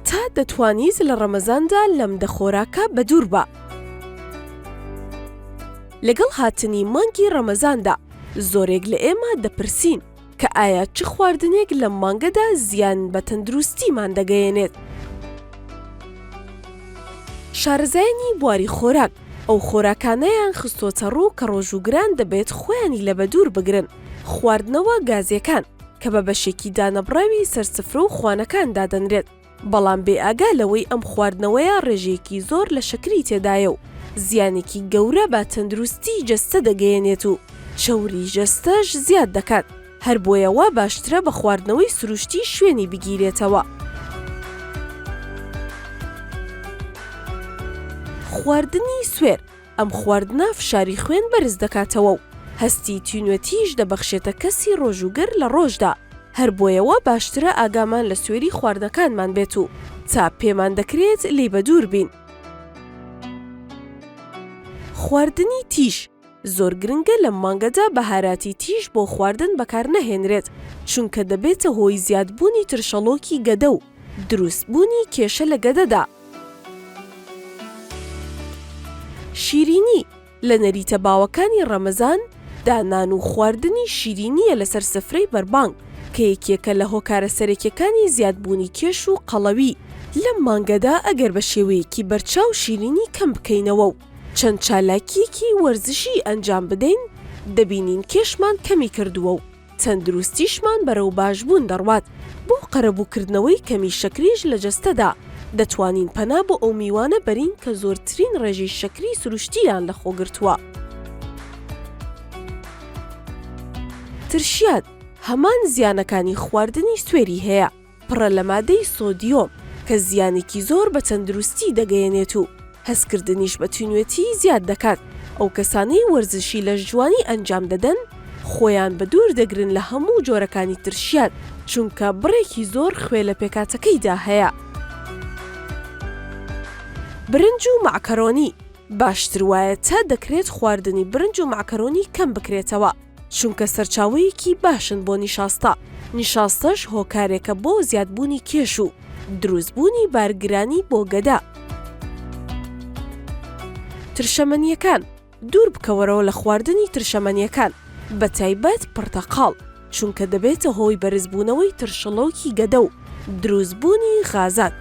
تا دەتوانیت لە ڕەمەزاندا لەم دە خۆراکە بەدوور بە. لەگەڵ هاتنی مانگی ڕەمەزاندا زۆرێک لە ئێمە دەپرسین کە ئایا چ خواردنێک لەم مانگەدا زیان بە تەندروستیمان دەگەیەنێت؟ شارەزایانی بواری خۆراک ئەو خۆراکانەیان خستۆتەڕوو کە ڕۆژووگران دەبێت خۆیانی لە بەدوور بگرن، خواردنەوە گازیەکان کە بە بەشێکی دانەبڕاوی سەر سفرە و خوانەکان دادەنرێت، بەڵام بێ ئاگا لەوەی ئەم خواردنەوەیە ڕێژەیەکی زۆر لە شەکری تێدایە و زیانێکی گەورە بە تەندروستی جەستە دەگەیەنێت و چەوری جەستەش زیاد دەکات. هەر بۆیە وا باشترە بە خواردنەوەی سروشتی شوێنی بگیرێتەوە. خواردنی سوێر، ئەم خواردنە فشاری خوێن بەرز دەکاتەوە و هەستی تینوێتیش دەبەخشێتە کەسی ڕۆژووگر لە ڕۆژدا، هەر بۆیە وا باشترە ئاگامان لە سوێری خواردنەکانمان بێت و تا پێمان دەکرێت لێی بەدوور بین. خواردنی تیژ. زۆر گرنگە لەم مانگەدا بەهاراتی تیژ بۆ خواردن بەکارنەهێنرێت، چونکە دەبێتە هۆی زیادبوونی ترشەڵۆکی گەدە و دروستبوونی کێشە لە گەدەدا. شیرینی، لە نەریتە باوەکانی ڕەمەزان، دانان و خواردنی شیرینییە لەسەر سفرەی بەربانگ، کە یەکێکە لە هۆکارە سەرەکیەکانی زیادبوونی کێش و قەڵەوی. لەم مانگەدا ئەگەر بە شێوەیەکی بەرچاو شیرینی کەم بکەینەوە و چەند چالاکییەکی وەرزشی ئەنجام بدەین، دەبینین کێشمان کەمی کردووە و تەندروستیشمان بەرەو باشبوون دەڕوات، بۆ قەرەبووکردنەوەی کەمی شەکریش لە جەستەدا، دەتوانین پەنا بۆ ئەو میوانە بەرین کە زۆرترین ڕێژەی شەکری سروشتییان لەخۆگرتووە. ترشیات، هەمان زیانەکانی خواردنی سوێری هەیە، پڕە لە مادەی سۆدیۆم کە زیانێکی زۆر بە تەندروستی دەگەیەنێت و هەستکردنیش بە توینوێتی زیاد دەکات، ئەو کەسانەی وەرزشی لەشجوانی ئەنجام دەدەن خۆیان بە دوور دەگرن لە هەموو جۆرەکانی ترشیات چونکە بڕێکی زۆر خوێ لە پێکاتەکەیدا هەیە. برنج و مەعکەرۆنی، باشتر وایە تا دەکرێت خواردنی برنج و مەعکەرۆنی کەم بکرێتەوە، چونکە سەرچاوەیەکی باشن بۆ نیشاستە، نیشاستەش هۆکارێکە بۆ زیادبوونی کێش و دروستبوونی بارگرانی بۆ گەدە. ترشەمەنیەکان، دوور بکەوەرەوە لە خواردنی ترشەمەنیەکان بە تایبەت پڕتەقاڵ، چونکە دەبێتە هۆی بەرزبوونەوەی ترشڵۆکی گەدە و دروستبوونی غازان.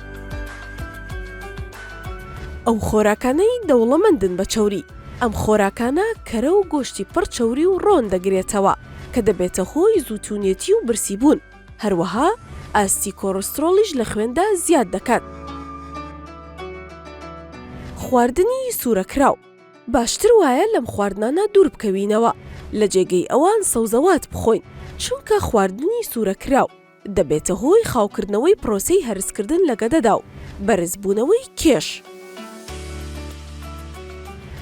ئەو خۆراکانەی دەوڵەمەندن بە چەوری. ئەم خۆراکانە کەرە و گۆشتی پڕ چەوری و ڕۆن دەگرێتەوە کە دەبێتە هۆی زووتونێتی و برسی بوون، هەروەها ئاستی کۆرسترۆڵیش لە خوێندا زیاد دەکات. خواردنی سورەکراو، باشتر وایە لەم خواردنانە دوور بکەوینەوە، لە جێگەی ئەوان سەوزەوات بخۆین، چونکە خواردنی سورەکراو، دەبێتە هۆی خاوکردنەوەی پرۆسەی هەرسکردن لە گەدەدا و بەرزبوونەوەی کێش.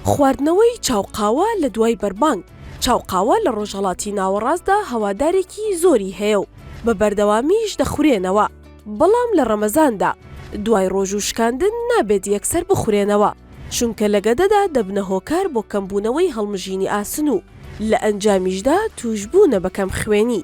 خواردنەوەی چاو قاوە لە دوای بەربانگ، چاو قاوە لە ڕۆژهەڵاتی ناوەڕاستدا هەوادارێکی زۆری هەیە و بە بەردەوامیش دەخورێنەوە، بەڵام لە ڕەمەزاندا دوای ڕۆژوو شکاندن نابێت یەکسەر بخورێنەوە، چونکە لە گەدەدا دەبنە هۆکار بۆ کەمبوونەوەی هەڵمژینی ئاسن و لە ئەنجامیشدا تووشبوونە بە کەمخوێنی.